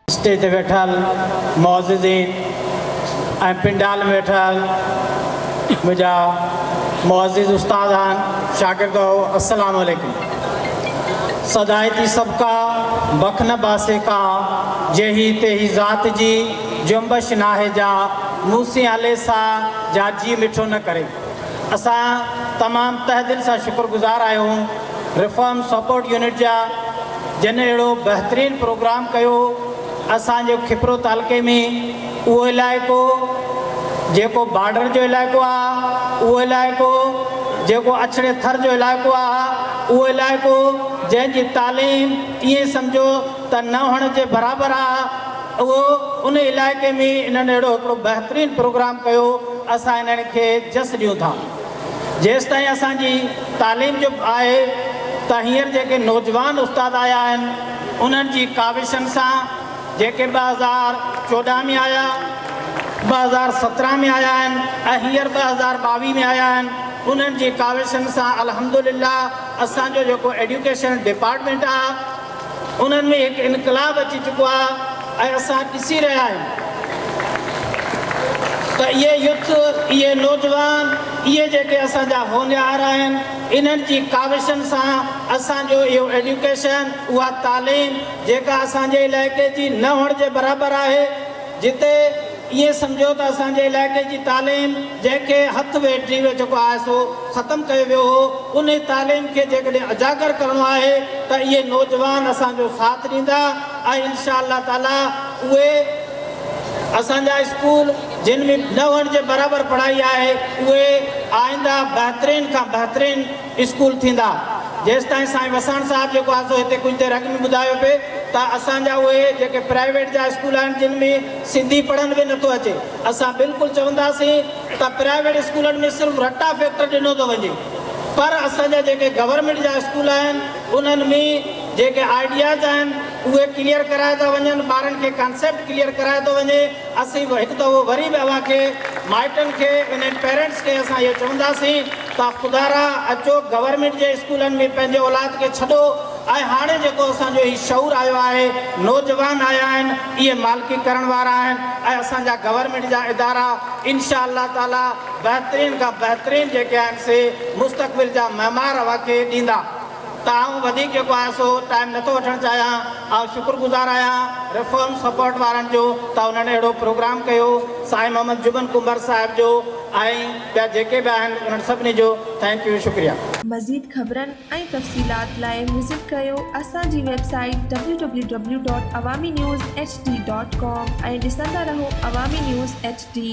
Stage تي ويٺل معززين ۽ پنڊال ۾ ويٺل منهنجا معزز استاد آهن شاگرد هو السلام عليڪم سدائي تي سب کا بخ نه باسي کا جيهي تيهي ذات جي جنبش ناهي جا نوسين عليه سان جا جي مٺو نه ڪري. اسان تمام تهه دل سان شڪر گذار آهيون ريفارم سپورٽ يونٽ جا جن اهڙو بهترين پروگرام ڪيو اسان جي کپرو تعلقي ۾ اهو علائقو جيڪو بارڊر جو علائقو آهي اهو علائقو جيڪو اڇڙي ٿر جو علائقو آهي اهو علائقو جنهن جي تعليم ائين سمجهو ته نه هئڻ جي برابر آهي. اهو ان علائقي ۾ انهن اهڙو هڪڙو بهترين پروگرام ڪيو اسان انهن کي جس ڏيون ٿا جيستائين اسان جي تعليم چپ آهي ته هينئر جيڪي نوجوان استاد آيا آهن انهن جي ڪاوشن سان جيڪي ٻه هزار چوڏهن ۾ آيا ٻه هزار سترهن ۾ آيا آهن ۽ هينئر ٻه هزار ٻاويهه ۾ آيا آهن انهن جي ڪاوشن سان الحمدلله اسان جو جيڪو ايڊيوڪيشن ڊپارٽمينٽ آهي انهن ۾ هڪ انقلاب اچي چڪو آهي ۽ اسان ڏسي رهيا آهيون ته اهي يوٿ، اهي نوجوان، اهي جيڪي اسان جا هونهار آهن، انهن جي ڪاوشن سان اسان جو اهو ايڊيوڪيشن، اها تعليم جيڪا اسان جي علائقي جي نه هئڻ جي برابر آهي، جتي ائين سمجهيو ته اسان جي علائقي جي تعليم جنهن کي هٿ ويٽ جي ويهه جيڪو آهي سو ختم ڪيو ويو هو انهي تعليم کي جيڪڏهن اجاگر ڪرڻو آهي ته اهي نوجوان اسان جو ساٿ ڏيندا ۽ انشاء الله تعالي اهي اسان جا اسڪول جن ۾ نه هئڻ جي برابر پڙهائي آهي اهي آئنده بهترين کان بهترين اسڪول ٿيندا. جيستائين سائين وساڻ صاحب جيڪو آهي سو هتي ڪجهه دير اڳ ۾ ٻڌايو پئي ته اسان جا اهي جيڪي پرائيويٽ جا اسڪول آهن جن ۾ سنڌي پڙهڻ به نٿو اچي اسان بلڪل چونداسين ته پرائيويٽ اسڪولن ۾ صرف رٽا فيڪٽر ڏنو ٿو وڃي پر اسان جا جيڪي گورنمينٽ جا اسڪول آهن انهن ۾ جيڪي آئيڊياز آهن اهي ڪليئر ڪرايا ٿا وڃن ٻارن کي ڪانسيپٽ ڪليئر ڪرايو ٿو وڃي. اسين به هڪ دفعو وري به اوهان کي مائٽن کي انهن پيرنٽس کي اسان اهو چونداسين ته خدا را اچو گورنمينٽ جي اسڪولن ۾ پنهنجي اولاد کي ڇڏو ۽ هاڻي جيڪو اسان جو هي شعور آيو آهي نوجوان آيا آهن اهي مالڪي ڪرڻ وارا آهن ۽ اسان جا گورنمينٽ جا ادارا انشاء الله تعالي بهترين کان بهترين جيڪي آهن سي مستقبل جا معمار اوهان کي ڏيندا. ته آئون وڌيڪ جيڪو آهي سو ٽائيم نٿو وٺڻ چاهيان. آئون شڪر گذار آهيان ريفارم سپورٽ وارن جو ته انهن اهڙو پروگرام ڪيو. سائين محمد جبن ڪنڀر صاحب جو ۽ ٻيا جيڪي به آهن انهن سڀني جو ٿينڪ يو شڪريا. مزيد خبرن ۽ تفصيلات لاء وزٽ ڪريو اسان جي website W W W dot Awami news H D dot com ۽ ڏسندا رهو عوامي نيوز ايڇ ڊي.